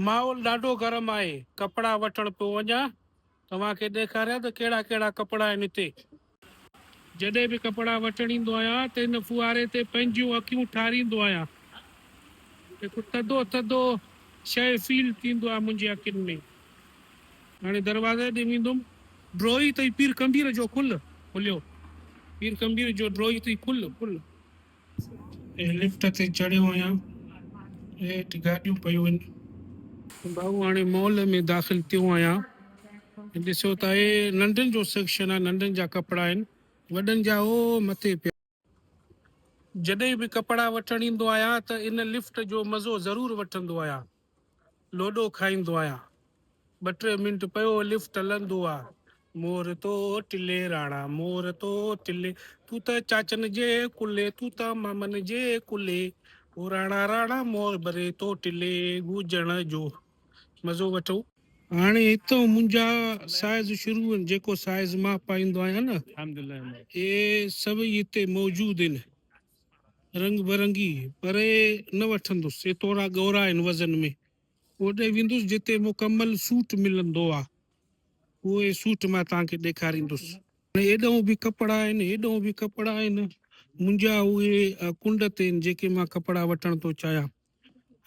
ماحول ڏاڍو گرم آهي ڪپڙا وٺڻ پيو وڃان توهان کي ڏيکاريان ته ڪهڙا ڪهڙا ڪپڙا آهن هتي. جڏهن به ڪپڙا وٺڻ ايندو آهيان ته هن ڦوهاري تي پنهنجيون اکيون ٺاريندو آهيان هڪ ٿڌو ٿڌو شيء فيل ٿيندو آهي منهنجي اکين ۾ هاڻي دروازي ڏي ويندم. ڊوهي تئي پير ڪنڀير جو کل کليو پير ڪنڀير جو ڊوهي تئي کل کل. لفٽ تي چڙهيو آهيان هيٺ گاڏيون پيون آهن. ڀائو هاڻي مال ۾ داخل ٿيو آهيان ڏسو ته هي ننڍن جو سيڪشن آهي ننڍن جا ڪپڙا آهن وڏن جا هو مٿي پيا. جڏهن به ڪپڙا وٺڻ ايندو آهيان ته ان لفٽ جو مزو ضرور وٺندو آهيان. لوڏو کائيندو آهيان ٻه ٽي منٽ پيو لفٽ هلندو آ مور تو ٽلي راڻا مور تو ٽلي تون ته چاچن جي ڪلي تون ته مامن جي ڪلي او راڻا راڻا مور بري تو ٽلي گوجڻ جو مزو وٺو. هاڻي هتئون منهنجا سائز شروع آهن جيڪو سائز مان پائيندو آهيان نه اهي سڀئي هتي موجود آهن رنگ برنگي پري نه وٺندس، سي ٿورا ڳورا آهن وزن ۾، اوڏي ويندس جتي مڪمل سوٽ ملندو آ، اهي سوٽ مان توهان کي ڏيکاريندس. ايڏهون به ڪپڙا آهن، ايڏهون به ڪپڙا آهن، منهنجا اهي ڪنڊ تي آهن، جيڪي مان ڪپڙا وٺڻ ٿو چاهيان.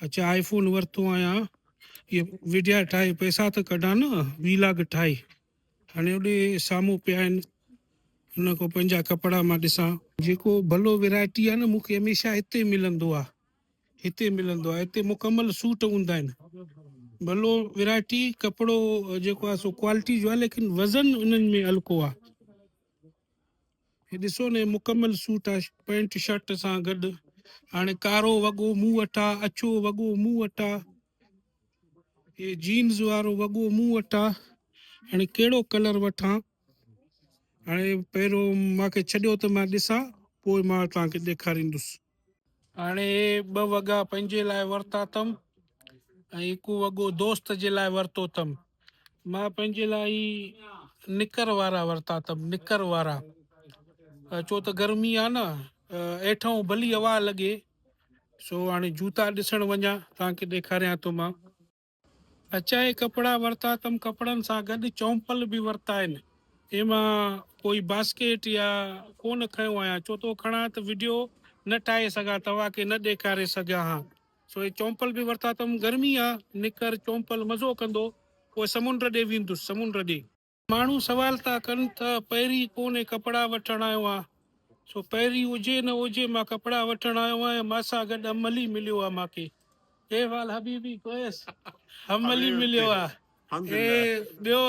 اچ آء فون ورتو آهيان اهي وڊيا ٺاهي پئسا ته ڪڍان نه وي لاگ ٺاهي هاڻي اوڏي سامهون پيا آهن ان کان پنهنجا ڪپڙا مان ڏسان. جيڪو ڀلو ويرائٽي آ نه مون کي هميشه هتي ملندو آ هتي ملندو آ هتي مڪمل سوٽ هوندا آهن ڀلو ويرائٽي ڪپڙو جيڪو آ سو ڪوالٽي جو آ ليڪن وزن انهن ۾ هلڪو آ هي ڏسو ني مڪمل سوٽ آ پينٽ شرٽ سان گڏ هاڻي ڪارو وڳو مون وٽ آ اڇو وڳو مون وٽ آ هي جينز وارو وڳو مون وٽ آ هاڻي ڪهڙو ڪلر وٺان هاڻي پهريون ماکي ڇڏيو ته مان ڏسان پوء مان تان کي ڏيکاريندس هاڻي ٻه وڳا پنهنجي لاء ورتا اٿم ۽ هڪ وڳو دوست جي لاء ورتو اٿم. مان پنهنجي لاء هي نڪر وارا ورتا اٿم، نڪر وارا، ڇو ته گرمي آ نه، هيٺئون ڀلي هوا لڳي، سو هاڻي جوتا ڏسڻ وڃان، توهان کي ڏيکاريان ٿو مان. اچائي ڪپڙا ورتا تم ڪپڙن سان گڏ چؤمپل به ورتائين اي مان ڪوئي باسڪيٽ يا ڪون کنيو آهيان چو تو کڻان ته وڊيو نه ٺاهي سگهان توهان کي نه ڏيکاري سگهيان ها سو اي چؤمپل به ورتا تم گرمي آ نڪر چؤمپل مزو ڪندو پوء سمنڊ ڏي ويندس سمنڊ ڏي ماڻهو سوال ٿا ڪن ته پهرين پوني ڪپڙا وٺڻ آيو آهيان سو پهرين هجي نه هجي مان ڪپڙا وٺڻ آيو آهيان مان سان گڏ املي مليو آهي مان کي ڪيف آل حبيبي ڪويس املي مليو آهي اهي ٻيو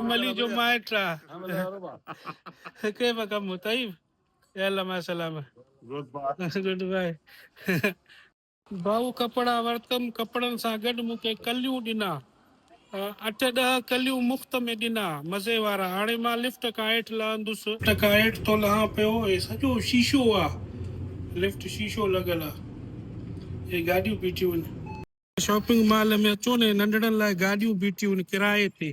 املي جو مائٽ آهي ڪيف ڪم طيب يا الله مع السلامه گڊ بائي ڀائو ڪپڙا ورتم ڪپڙن سان گڏ مون کي ڪليون ڏنا اٺ ڏهه ڪليون مفت ۾ ڏنا مزي وارا هاڻي مان لفٽ کان هيٺ لهندس. لفٽ کان هيٺ ٿو لهان پيو هي سڄو شيشو آ لفٽ شيشو لڳل آ هي گاڏيون بيٺيون آهن. شاپنگ مال ۾ اچو نه هي ننڍڙن لاء گاڏيون بيٺيون آهن ڪرائي تي.